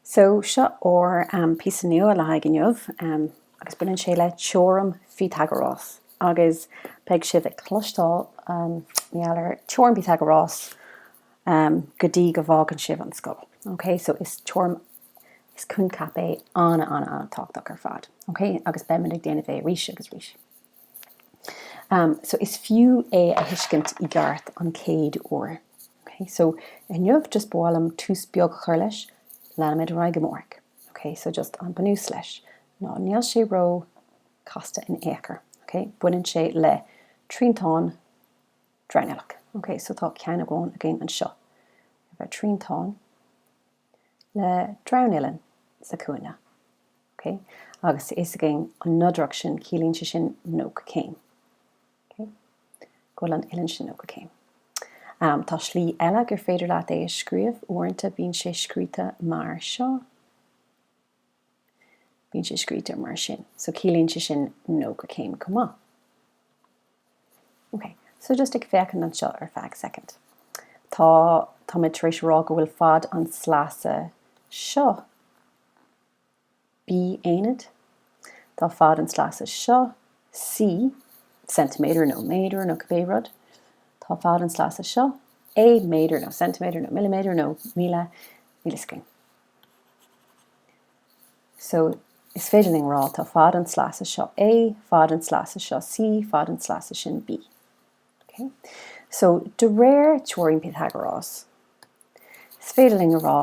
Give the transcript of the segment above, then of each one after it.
So, seo ár bpíosa nua le haghaidh inniu agus baineann sé le teoirim Phíotagarás agus beidh sibh ag cloisteáil mar gheall ar teoirim Phíotagarás go dtí go bhfágann sibh an scoil. Ok, so is teoirim, is coincheap é an-an-an-tábhachtach ar fad. Ok, agus beimid ag déanamh é arís agus arís. so is fiú é a thuiscint i gceart an chéad uair. ok so inniu just ba mhaith liom tús beag a chur leis, leanfaimid ar aghaidh amárach. ok so just an bunús leis ná níl sé ró casta in ao' chor. ok baineann sé le triantán dronuilleach. ok so tá ceann amháin againn anseo. triantán. le dronuillinn sa chúinne. OK? Agus tá fhios againn an nodaireacht sin, ciallaíonn sé sin 90 céim. OK? Go bhfuil an uillinn sin 90 céim. Um, tá slí eile gur féidir leat é a scríobh, uaireanta bíonn sé scríte mar seo. Bíonn sé scríte mar sin. So ciallaíonn sé sin 90 céim chomh maith. Ok, so just ag féachaint anseo ar feadh soicind. Táimid tar éis rá go bhfuil fad an tsleasa seo, B aonad, tá fad an tsleasa seo, C, centimeter nó méadar nó cibé rud, tá fad an tsleasa seo, A méadar nó centimeter nó millimeter nó míle, is cuma. So, is féidir linn a rá, tá fad an tsleasa seo A, fad an tsleasa seo C, fad an tsleasa sin B. Okay? So, de réir teoirim Phíotagarás, is féidir linn a rá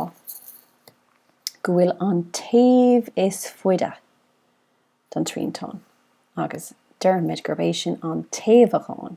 go bhfuil an taobh is faide don triantán, agus deirmid gurb é sin an taobhagán.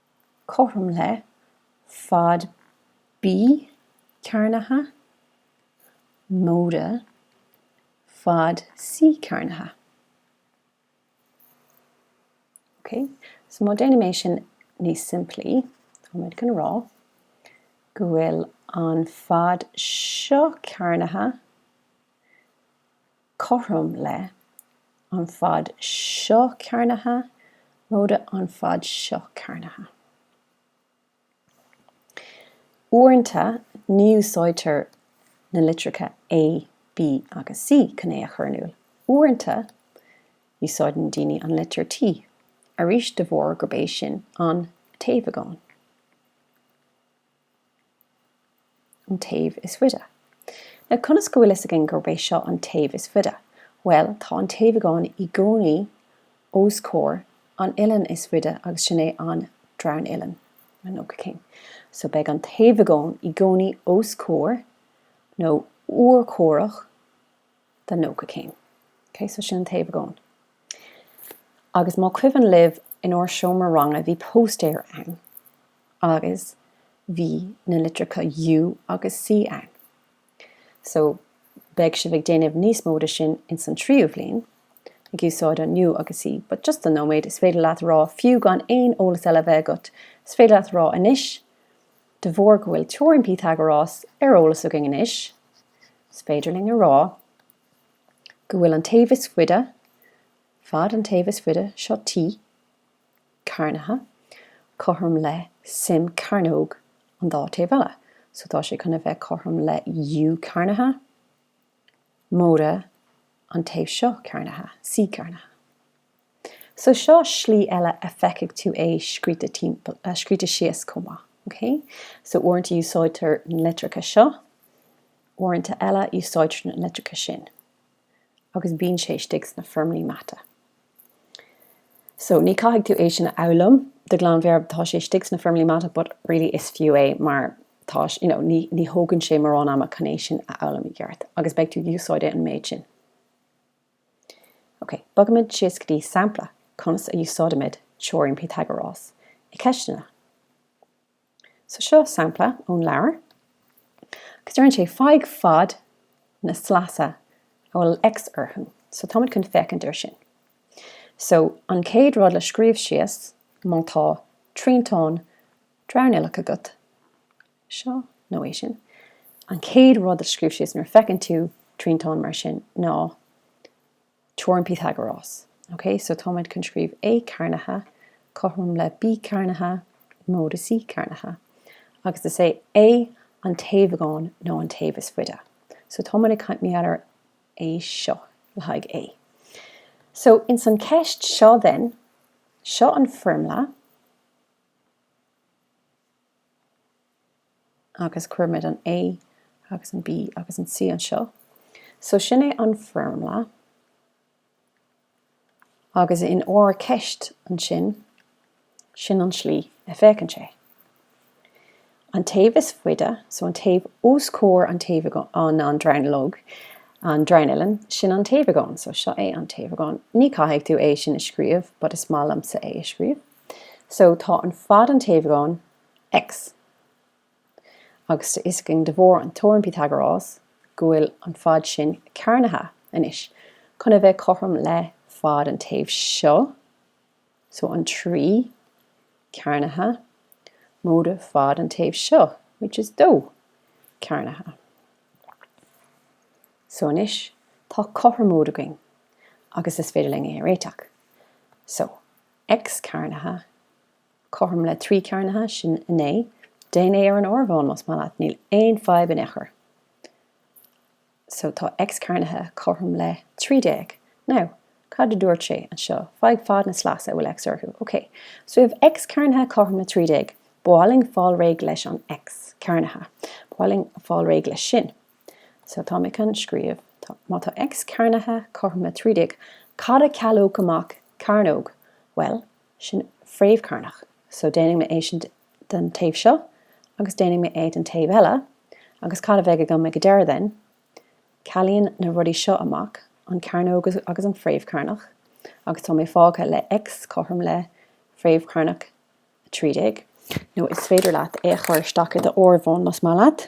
cothrom le, fad B cearnaithe, móide, fad C cearnaithe. Ok, so má déanaim é sin níos simplí, táimid chun a rá go bhfuil an fad seo cearnaithe cothrom le, an fad seo cearnaithe, móide an fad seo cearnaithe. Uaireanta ní úsáidtear na litreacha A, B agus C chun é a chur in iúl. Uaireanta úsáideann daoine an litir T, arís de bharr gurb é sin an taobhagán. an taobh is faide. Now conas go bhfuil fhios againn gurb é seo an taobh is faide? Bhuel, tá an taobhagán i gcónaí os comhair an uillinn is faide agus sin é an dronuillinn, an nócha céim. So beidh an taobhagán i gcónaí os comhair nó urchomhaireach den nócha céim. Ok, so sin an taobhagán. Agus má cuimhin libh in ár seomra ranga bhí póstaeir ann agus bhí na litreacha U agus C ann. So beidh sibh ag déanamh níos mó de sin ins an tríú bhliain, ag úsáid an U agus C. But just don nóiméad, is féidir leat a rá, fiú gan aon eolas eile a bheith agat, is féidir leat a rá anois, De bharr go bhfuil teoirim Pythagoras ar eolas againn anois, is féidir linn a rá go bhfuil an taobh is faide, fad an taobh is faide seo T, cearnaithe, cothrom le suim cearnóg an dá taobh eile, so tá sé chun a bheith cothrom le U cearnaithe, móide an taobh seo cearnaithe, C cearnaithe. So seo slí eile a feicfidh tú é scríte síos chomh maith, ok? So uaireanta úsáidtear na litreacha seo, uaireanta eile úsáidtear na litreacha sin agus bíonn sé istigh sna foirmlí mata. So ní caithfidh tú é sin a fhoghlaim de ghlanmheabhair, tá sé istigh sna foirmlí mata but really is fiú é mar tá, you know, ní, ní thógann sé mórán ama chun é sin a fhoghlaim i gceart agus beidh tú ag úsáid an méid sin. Ok, bogaimid síos go dtí sampla conas a úsáidimid teoirim Pythagoras i ceisteanna. So seo sampla ón leabhar agus deireann sé faigh fad na sleasa a bhfuil X orthu. So táimid chun féachaint air sin. So an chéad rud le scríobh síos má tá triantán dronuilleach agat, seo nó é sin. An chéad rud a scríobh síos nuair a feiceann tú triantán mar sin ná teoirim Pythagoras. Ok, so táimid chun scríobh A cearnaithe cothrom le B cearnaithe móide C cearnaithe. Agus is é A an taobhagán nó an taobh is faide. So táimid ag caint mar gheall ar é seo le haghaidh A. So ins an cheist seo then, seo an foirmle. agus cuirimid an A agus an B agus an C anseo so sin é an foirmle agus in ár ceist ansin sin an slí a fhéachann sé an taobh is faide so an taobh os comhair an taobh an an dronuilleog an dronuillinn sin an taobhagán so seo é an taobhagán ní caithfidh tú é sin a scríobh but is maith liomsa é a scríobh. So tá an fad an taobh anaithnid, X. Agus tá a fhios againn de bharr an teoirim Pythagoras go bhfuil an fad sin cearnaithe anois chun a bheith cothrom le fad an taobh seo, so an trí cearnaithe móide fad an taobh seo, which is dó cearnaithe. So anois tá cothromóid againn agus is féidir linn é a réiteach. So X cearnaithe, cothrom le 3 cearnaithe, sin 9. Déan é ar an áireamhán más maith leat, níl aon fadhb in aon chor. So tá X cearnaithe cothrom le 13. Now, cad a dúirt sé anseo? Faigh fad na sleasa a bhfuil X orthu. Ok, so we have X cearnaithe cothrom le 13. Ba mhaith linn fáil réidh leis an X cearnaithe. Ba mhaith linn fáil réidh leis sin. So tá mé chun scríobh, má tá X cearnaithe cothrom le 13, cad a chealódh amach Cearnóg, bhuel, sin fréamh cearnach, so déanfaidh mé é sin den taobh seo agus déanfaidh mé é den taobh eile agus cad a bheidh agam ag an deireadh then? Cealaíonn na rudaí seo amach an cearnóg agus an fréamh cearnach agus tá mé fágtha le X cothrom le fréamh cearnach 13. Nó is féidir leat é a chur isteach i d'áireamhán más maith leat.